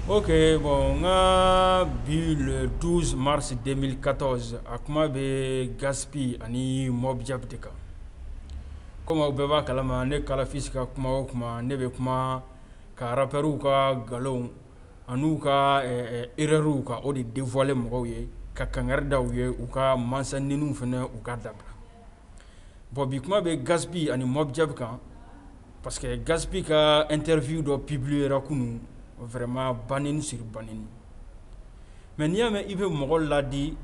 Ok bon n ka bi le douze mars deux mille quatorze a kuma bɛ Gaspi ani Mobjack de kan kɔmi aw bɛɛ b'a kalama ne kalafisi ka kuma o kuma ne bɛ kuma ka rappeurw ka nkalonw ani u ka erreurw ka o de dévoiler mɔgɔw ye ka kankari da u ye u ka mansanɛniw fana u k'a dabila Bon bi kuma bɛ Gaspi ani Mobjack kan parce que Gaspi ka interview dɔ publiera kunun vraiment banɛni sur banɛni mais n'i y'a mɛn i bɛ mɔgɔ ladi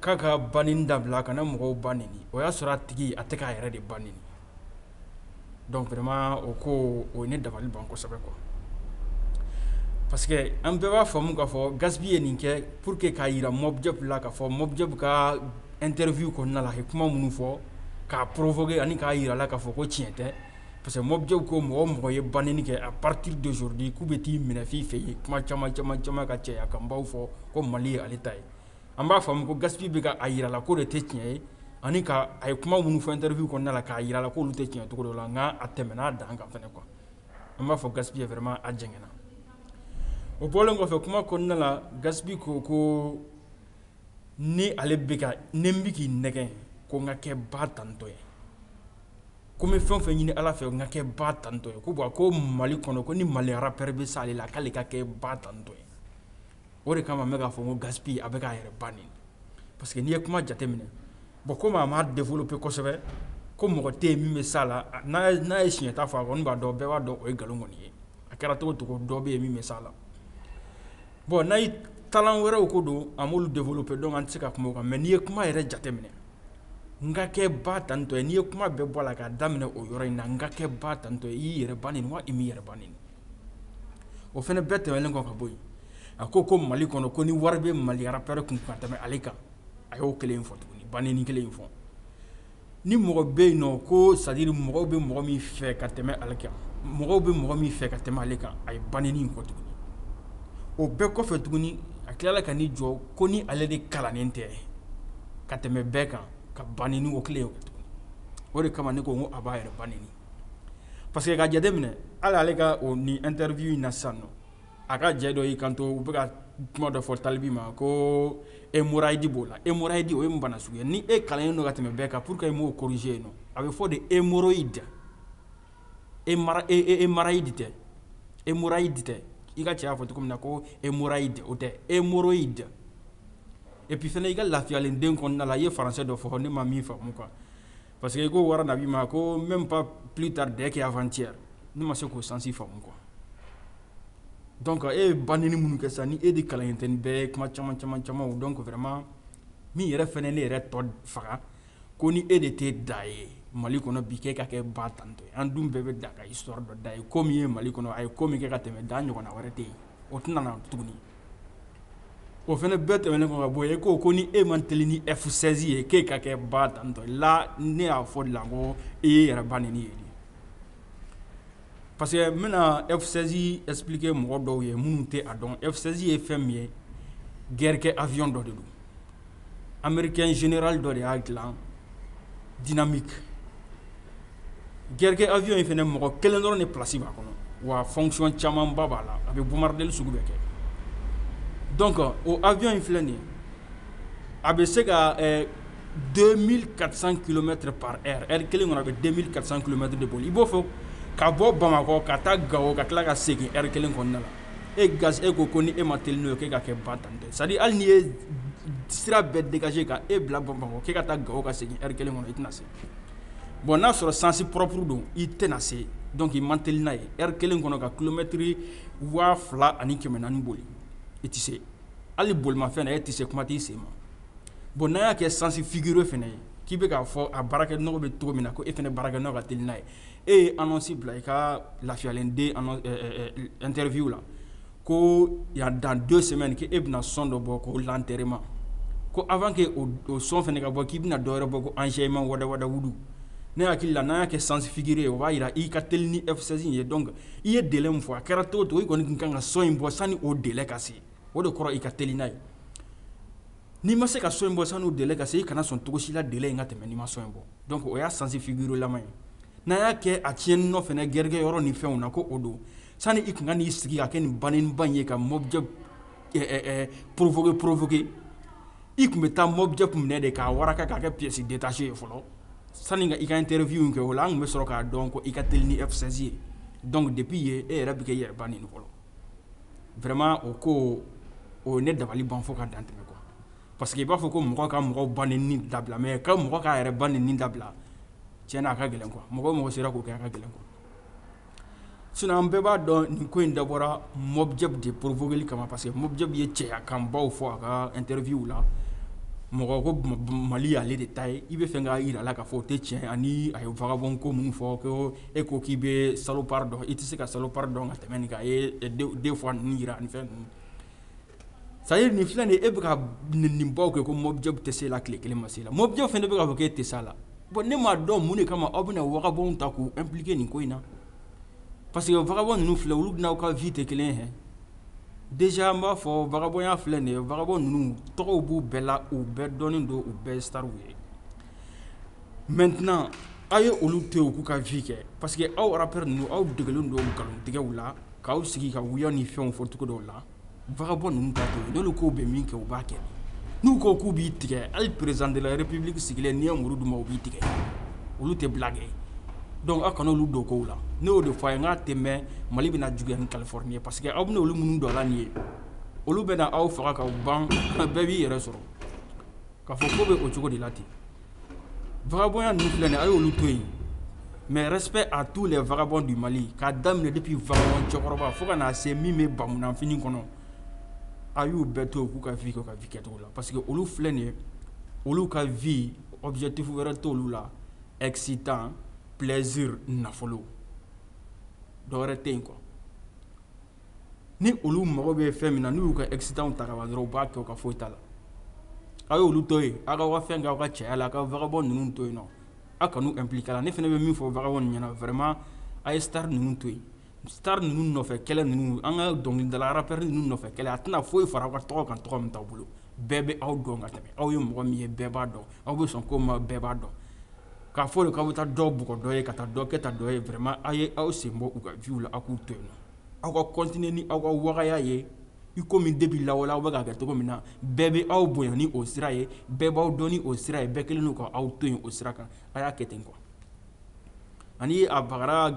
k'a ka banɛni dabila a kana mɔgɔw ba nɛni o y'a sɔrɔ a tigi a tɛ k'a yɛrɛ de ba nɛni donc vraiment o ko o ye ne dabali ban kosɛbɛ quoi parce que an bɛɛ b'a faamu k'a fɔ Gaspi ye nin kɛ pour que k'a jira Mobjack la k'a fɔ Mobjack ka interview kɔnɔna la a ye kuma minnu fɔ k'a provoquer ani k'a jira a la k'a fɔ ko tiɲɛ tɛ parce que Mobjack ko mɔgɔ o mɔgɔ ye banɛni kɛ à partir d'aujourd'hui k'u bɛ t'i minɛ f'i fɛ yen kuma caman caman caman ka cɛya kan baw fɔ ko Mali ye ale ta ye An b'a faamu ko Gaspi bɛ ka a jira a la k'o de tɛ tiɲɛ ye ani ka a ye kuma minnu fɔ interview kɔnɔna la k'a jira a la k'olu tɛ tiɲɛ ye cogo dɔ la, nka a tɛmɛna a dan kan fana quoi an b'a fɔ Gaspi vraiment a jɛngɛnna, o bɔlen kɔfɛ kuma kɔnɔna la Gaspi ko ko ni ale bɛ ka ni n bɛ k'i nɛgɛn ko n ka kɛ ba tantɔ ye, ko n bɛ fɛn o fɛn ɲini Ala fɛ n ka kɛ ba tantɔ ye ko bon ko Mali kɔnɔ ko ni Mali rappeur bɛ s'ale la k'ale ka kɛ ba tantɔ ye o de kama n bɛ k'a fɔ ko Gaspi a bɛ k'a yɛrɛ ba nɛni parce que n'i ye kuma jateminɛ bon kɔmi a m'a développer kosɛbɛ ko mɔgɔ tɛ yen min bɛ s'a la n'a ye siɲɛta fɔ a kɔni b'a dɔn bɛɛ b'a dɔn o ye nkalon kɔni ye a kɛra cogo o cogo dɔ bɛ yen min bɛ s'a la bon n'a ye talent wɛrɛw ko don a m'olu développer donc an tɛ se ka kuma o kan mais n'i ye kuma yɛrɛ jateminɛ n ka kɛ ba tantɔ ye n'i ye kuma bɛɛ bɔ a la k'a daminɛ o yɔrɔ in na n ka kɛ ba tantɔ ye i y'i yɛrɛ ba nɛni wa i m'i yɛrɛ ba nɛni o fana bɛɛ tɛmɛnen kɔ ka bɔ yen a ko ko Mali kɔnɔ ko ni wari bɛ Mali rappeur kun ka tɛmɛ ale kan a y'o kelen fɔ tuguni banɛni kelen in fɔ ni mɔgɔ bɛ yen nɔ ko c'est-à-dire mɔgɔw bɛ mɔgɔ min fɛ ka tɛmɛ ale kan mɔgɔw bɛ mɔgɔ min fɛ ka tɛmɛ ale kan a ye banɛni in fɔ tuguni o bɛɛ kɔfɛ tuguni a tilala ka n'i jɔ ko ni ale de kalannen tɛ ka tɛmɛ bɛɛ kan ka banɛni o kelen o de kama ne ko a b'a yɛrɛ ba nɛni parce que ka jateminɛ hali ale ka o ni interview in na sisan nɔ a ka jɛ dɔ y'i kanto u bɛ ka kuma dɔ fɔ Tal B ma ko hémorroïde b'o la hémorroïde o ye mun bana sugu ye ni e kalannen don ka tɛmɛ bɛɛ kan pourquoi i m'o corriger yen a bɛ fɔ de hémorroïde hémorroïde tɛ hémorroïde tɛ i ka cɛ y'a fɔ cogo min na ko hémorroïde o tɛ hémorroïde et puis fana i ka lafiyalen den kɔnɔna la i ye faransɛ dɔ fɔ ne ma min faamu mun kan Parce que i ko wara nabi ma ko même pas plus tard dès qu'avant-hier ne ma se k'o sens faamu quoi donc e ye ba nɛni minnu kɛ sisan ni e de kalannen tɛ nin bɛɛ ye kuma caman caman caman donc vraiment min yɛrɛ fana ne yɛrɛ tɔ faga ko ni e de tɛ da ye mali kɔnɔ bi k'e ka kɛ ba tantɔ an dun bɛɛ bɛ da ka histoire dɔn da ye ko min ye mali kɔnɔ a ye ko min kɛ ka tɛmɛ da ɲɔgɔn wɛrɛ tɛ yen o tɛna na tuguni o fana bɛɛ tɛmɛnen kɔ ka bɔ yen e ko ko ni e man teli ni F16 ye k'e ka kɛ ba tantɔ la ne y'a fɔ la ko e ye yɛrɛ ba nɛni ye parce que n bɛna F16 expliquer mɔgɔ dɔw ye minnu tɛ a dɔn F16 ye fɛn min ye guerre kɛ avion dɔ de don anmeric in zera dɔ de y'a dila diina mi garikɛ awy in fana mɔgɔ kelen dɔrɔn ni psi' kɔnɔ wa fɔcɔn caman ba b'a la a bɛ bonbadli sugu bɛ kɛ dɔn kɔ o awy in filɛ nin a bɛ se ka den mi karisa kulomɛ tɛ pa ri kelen kɔnɔ a bɛ den mi karisa kulomɛtɛ de bɔ i b'o fɔ ka bɔ bamakɔ ka taa gawo ka tila ka segin ri kelen kɔnɔna na e ga e ko ko ni e man teli n'o ye k'e ka kɛ ba tantɔ c'est à dire hali n'i ye sira bɛɛ dégager ka e bila Bamakɔ k'e ka taa Gao ka segin heure kelen kɔnɔ i tɛna se bon n'a sɔrɔ sens propre don i tɛna se donc i man teli n'a ye heure kelen kɔnɔ ka kilomɛtiri waa fila ani kɛmɛ naani boli i tɛ se hali bolimafɛn na e tɛ se kuma t'i sen ma bon n'a y'a kɛ sens figuré fana ye k'i bɛ k'a fɔ a baarakɛnɔgɔ bɛ cogo min na ko e fana baarakɛnɔgɔ ka teli n'a ye e ye annonce bila i ka lafiyalen den annonce ɛ ɛ ɛ interview la ko yan dans deux semaines ko e bɛna son dɔ bɔ ko l'enterrement ko avant que o son fana ka bɔ k'i bɛna dɔ wɛrɛ bɔ ko enseignement wadawadawudu ne hakili la n'a y'a kɛ sens figuré ye o b'a jira i ka teli ni F16 in ye donc i ye délai min fɔ a kɛra cogo o cogo i kɔni tun ka kan ka son in bɔ sani o délai ka se o de kɔrɔ i ka teli n'a ye N'i ma se ka son in bɔ sani délai ka se i kana sɔn cogo si la délai in ka tɛmɛ n'i ma son in bɔ donc o y'a sens figuré ye n'a y'a kɛ a tiɲɛni nɔfɛ guerre kɛ yɔrɔ ni fɛnw na ko o don sani i tun ka n'i sigi ka kɛ nin banba in ye ka Mobjack provoquer provoquer i tun bɛ taa Mobjack minɛ de k'a wara k'a kɛ pièce détachée ye fɔlɔ sani i ka interview in kɛ o la an tun bɛ sɔrɔ k'a dɔn ko i ka teli ni F16 ye donc depuis yen e yɛrɛ bɛ k'i yɛrɛ ba nɛni fɔlɔ vraiment o ko o ye ne dabali ban fo ka dan tɛmɛ quoi parce que i b'a fɔ ko mɔgɔ ka mɔgɔ ba nɛni dabila mais ka mɔgɔ k'a yɛrɛ ba nɛni dabila tiɲɛ na a ka gɛlɛn quoi mɔgɔ o mɔgɔ sera k'o kɛ a ka gɛlɛn quoi sinon an bɛɛ b'a dɔn nin ko in dabɔra Mobjack de provoquer li kama parce que Mobjack ye cɛya kanbaw fɔ a ka interview la mɔgɔ ko Mali y'ale de ta ye i bɛ fɛ k'a jira a la k'a fɔ o tɛ tiɲɛ ye ani a ye vagabond ko minnu fɔ ko e ko k'i bɛ salopard dɔn i tɛ se ka salopard dɔn ka tɛmɛ nin kan deux fois ninnu jira ani fɛn c'est à dire nin filɛ nin e bɛ ka nin baw kɛ ko mobjack tɛ se la tile kelen ma se la mobjack fana bɛ k'a fɔ k'e tɛ se la bon ne m'a dɔn mun de kama aw bɛna vagabond ta k'u impliquer nin ko in na parce que vagabond ninnu filɛ olu n'aw ka vie tɛ kelen ye déjà n b'a fɔ vagabondya filɛ nin ye vagabond ninnu tɔgɔ b'u bɛɛ la u bɛɛ dɔnnen don u bɛɛ stars ye maintenant aw ye olu to yen u k'u ka vie kɛ parce que aw rappeur ninnu aw degelen don nkalontigɛw la k'aw sigi ka wuya ni fɛnw fɔ cogo dɔw la vagabond ninnu ta to yen n'u ko k'u bɛ min kɛ u b'a kɛ n'u ko k'u b'i tigɛ hali président de la république sigilen n'i ye muru d'u ma u b'i tigɛ olu tɛ blaguer donc aw kana olu don ko la ne y'o de fɔ a ye nk'a tɛ mɛn mali bɛna juguya ni californie ye parce que aw bɛna olu minnu don a la nin ye olu bɛna aw faga ka ban bɛɛ b'i yɛrɛ sɔrɔ k'a fɔ ko bɛ o cogo de la ten vagabond ninnu filɛ nin ye a y'olu to yen mais respect à tous les vagabonds du Mali k'a daminɛ depuis vagabond cɛkɔrɔba fo ka na se min bɛ bamunanfini kɔnɔ a y'u bɛɛ to yen u k'u ka vie kɛ u ka vie kɛcogo la parce que olu filɛ nin ye olu ka vie objectif wɛrɛ t'olu la excitant plaisir nafolo dɔ wɛrɛ tɛ yen quoi ni olu mago bɛ fɛn min na n'u y'u ka excitantw ta ka ban dɔrɔn u b'a kɛ u ka foyi t'a la aw ye olu to yen aw k'aw ka fɛn kɛ aw ka cɛya la ka vagabond ninnu to yen nɔ aw kan'u impliquer la ne fana bɛ min fɔ vagabond ɲɛna vraiment a ye star ninnu to yen star ninnu nɔfɛ kɛlɛ ninnu an ka dɔnkilidala rappeur ninnu nɔfɛ kɛlɛ a tɛna foyi fara aw ka tɔgɔ kan tɔgɔ min t'aw bolo bɛɛ bɛ aw dɔn ka tɛmɛ aw ye mɔgɔ min ye bɛɛ b'a dɔn aw bɛ sɔn ko ma bɛɛ b'a dɔn k'a fɔ de k'aw bɛ taa dɔ bugɔ dɔ ye ka taa dɔ kɛ ta dɔ ye vraiment aw ye aw sen bɔ u ka vie la aw k'u to yen aw ka continuer ni aw ka wagaya ye i komi depuis lawale aw bɛ k'a kɛ cogo min na bɛɛ bɛ aw bonya ni o sira ye bɛɛ b'aw dɔn ni o sira ye bɛɛ kɛlen don ka aw to yen o sira kan a y'a kɛ ten quoi ani a bagara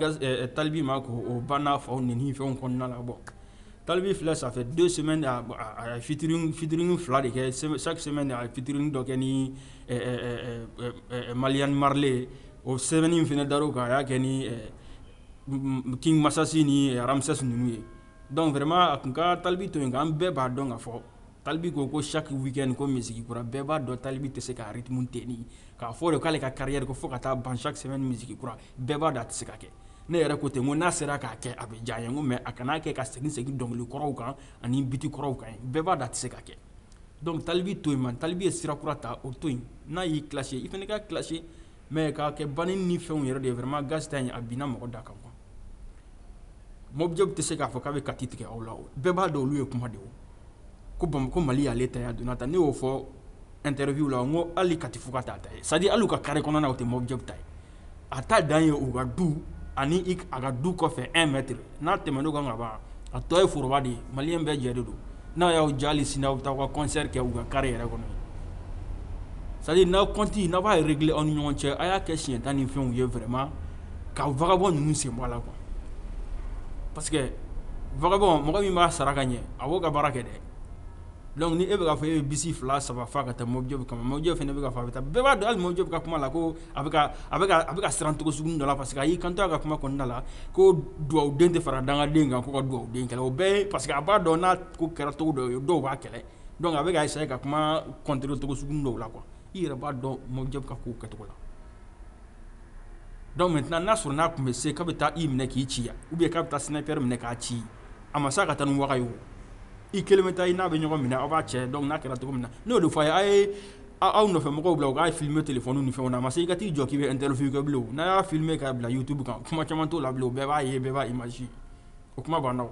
talibi ma ko o banna faw neni fɛnw kɔnɔna na bon talibi filɛ ça fait deux semaines a featuring fila de kɛ chaque semaine a featuring dɔ kɛ ni malien marley ye o semaine in fana dar'o kan a y'a kɛ ni king masasi ni ramses ninnu ye donc vraiment a kun ka talibi to yen nka an bɛɛ b'a dɔn k'a fɔ talibi ko ko chaque week-end ko musique kura bɛɛ b'a dɔn talibi tɛ se ka rythme tenir k'a fɔ de k'ale ka carrière ko fo ka taa ban chaque semaine musique kura bɛɛ b'a dɔn a tɛ se ka kɛ ne yɛrɛ ko ten n ko n'a sera k'a kɛ a bɛ diya n ye n ko mais a kana a kɛ ka segin segin dɔnkili kɔrɔw kan ani biti kɔrɔw kan bɛɛ b'a dɔn a tɛ se ka kɛ donc talibi to yen man talibi ye sira kura ta o to yen n'a y'i clasher i fana k'a clasher mais k'a kɛ ban ni fɛnw yɛrɛ de vraiment gasta in a binna mɔgɔ da kan quoi Mobjack tɛ se k'a fɔ k'a bɛ Kati tigɛ aw la bɛɛ b'a dɔn olu ye kuma de ko Bamako Mali y'ale ta ye a donna tan ne y'o fɔ interview la n ko hali Kati Fuga t'a ta ye c'est à dire hali u ka carré kɔnɔna o tɛ Mobjack ta ye a ta dan ye u ka du ani a ka du kɔfɛ un mètre n'a tɛmɛn'o kan ka ban a tɔ ye foroba de ye maliyɛn bɛɛ jɛ de don n'a y'aw diya hali sini aw bɛ taa aw ka concert kɛ u ka carré yɛrɛ kɔnɔ c'est à dire n'aw compte n'a b'a régler aw ni ɲɔgɔn cɛ a y'a kɛ siɲɛ tan ni fɛnw ye vraiment ka vagabond ninnu sen bɔ a la quoi parce que vagabond mɔgɔ min b'a sara ka ɲɛ a b'o ka baara kɛ dɛ donc ni e bɛ k'a fɔ e bɛ bisi fila saba fa ka taa Mobjack kama Mobjack fana bɛ k'a fɔ a bɛ taa bɛɛ b'a dɔn hali Mobjack ka kuma la ko a bɛ ka siran cogo sugu dɔ la parce que a y'i kanto a ka kuma kɔnɔna la ko dugawuden tɛ fara dangaden kan ko ka dugawuden kɛlɛ o bɛɛ ye parce que a b'a dɔn n'a ko kɛra cogo dɔ ye dɔw b'a kɛlɛ donc a bɛ ka essayer ka kuma contrer cogo sugu dɔw la quoi i yɛrɛ b'a dɔn Mobjack ka kow kɛcogo la donc maintenant n'a sɔrɔ n'a tun bɛ se k'a bɛ taa i minɛ k'i ci ou bien k'a bɛ taa Snipa minɛ k'a ci a ma se ka taa ni vaga ye i kelen bɛ taa i n'a bɛ ɲɔgɔn minɛ aw b'a cɛ donc n'a kɛra cogo min na ne y'o de fɔ a ye aw nɔfɛ mɔgɔw bila u k'a filmer téléphone ni fɛnw na a ma se i ka t'i jɔ k'i bɛ interview kɛ bilen o, n'a y'a filmer k'a bila youtube kan kuma caman t'o la bilen o bɛɛ b'a ye bɛɛ b'a image ye o kuma banna o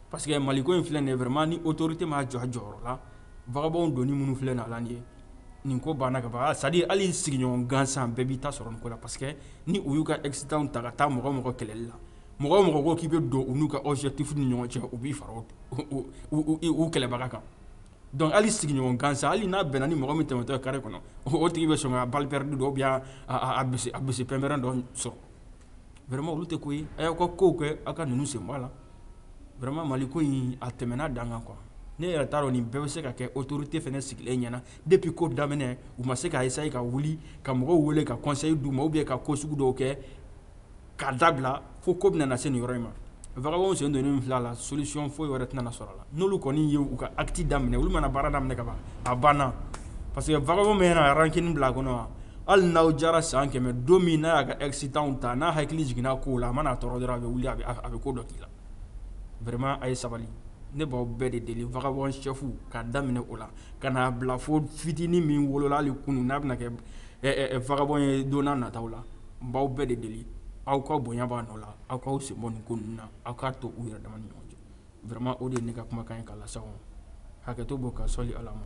parce que Mali ko in filɛ nin ye vraiment ni autorité m'a jɔ a jɔyɔrɔ la vagabond donni minnu filɛ nin ye a la nin ye nin ko banna ka ban c'est à dire hali sigiɲɔgɔn gansan bɛɛ b'i ta sɔrɔ nin ko la parce que ni u y'u ka excitant ta ka taa mɔgɔ o mɔgɔ kɛlɛli la mɔgɔ o mɔgɔ ko k'i bɛ don u n'u ka objectif ni ɲɔgɔn cɛ u b'i fara o o u u u u kɛlɛbaga kan Donc hali sigiɲɔgɔn gansan hali n'a bɛnna ni mɔgɔ min tɛmɛtɔ carré kɔnɔ o tigi bɛ sɔn ka balle perdue dɔ ou bien a bisi pɛnpɛrɛn dɔ sɔrɔ vraiment olu tɛ ko ye a y'aw ka ko kɛ aw ka ninnu sen bɔ a la vraiment Mali ko in a tɛmɛna dan kan quoi ne yɛrɛ t'a dɔn nin bɛɛ bɛ se ka kɛ autorité fɛnɛ sigilen ɲɛna depuis ko daminɛ u ma se ka essayer ka wuli ka mɔgɔw wele ka conseil d'u ma ou bien ka ko sugu dɔw kɛ k'a dabila fo ko bɛna na se nin yɔrɔ in ma vagabond sen donnen in filɛ a la solution foyi wɛrɛ tɛna na sɔrɔ a la n'olu kɔni ye u ka acte daminɛ olu mana baara daminɛ ka ban a banna parce que vagabond min mana rancune bila a kɔnɔ wa hali n'aw jara san kɛmɛ don min n'a y'a ka excitant ta n'a hakili jiginna kow la a mana a tɔɔrɔ dɔrɔn a bɛ wuli a bɛ ko dɔ k'i la vraiment a ye sabali ne b'aw bɛɛ de deli vagabond chef k'a daminɛ o la ka n'a bila fo fitini min wolola hali kunun n'a bɛna kɛ vagabond ye don n'a nataw la n b'aw bɛɛ de deli aw ka bonya b'a nɔ la aw k'aw sen bɔ nin ko ninnu na aw k'a to u yɛrɛ dama ni ɲɔgɔn cɛ vraiment o de ye ne ka kumakan ye k'a lase aw ma hakɛto b'o kan sɔli Ala ma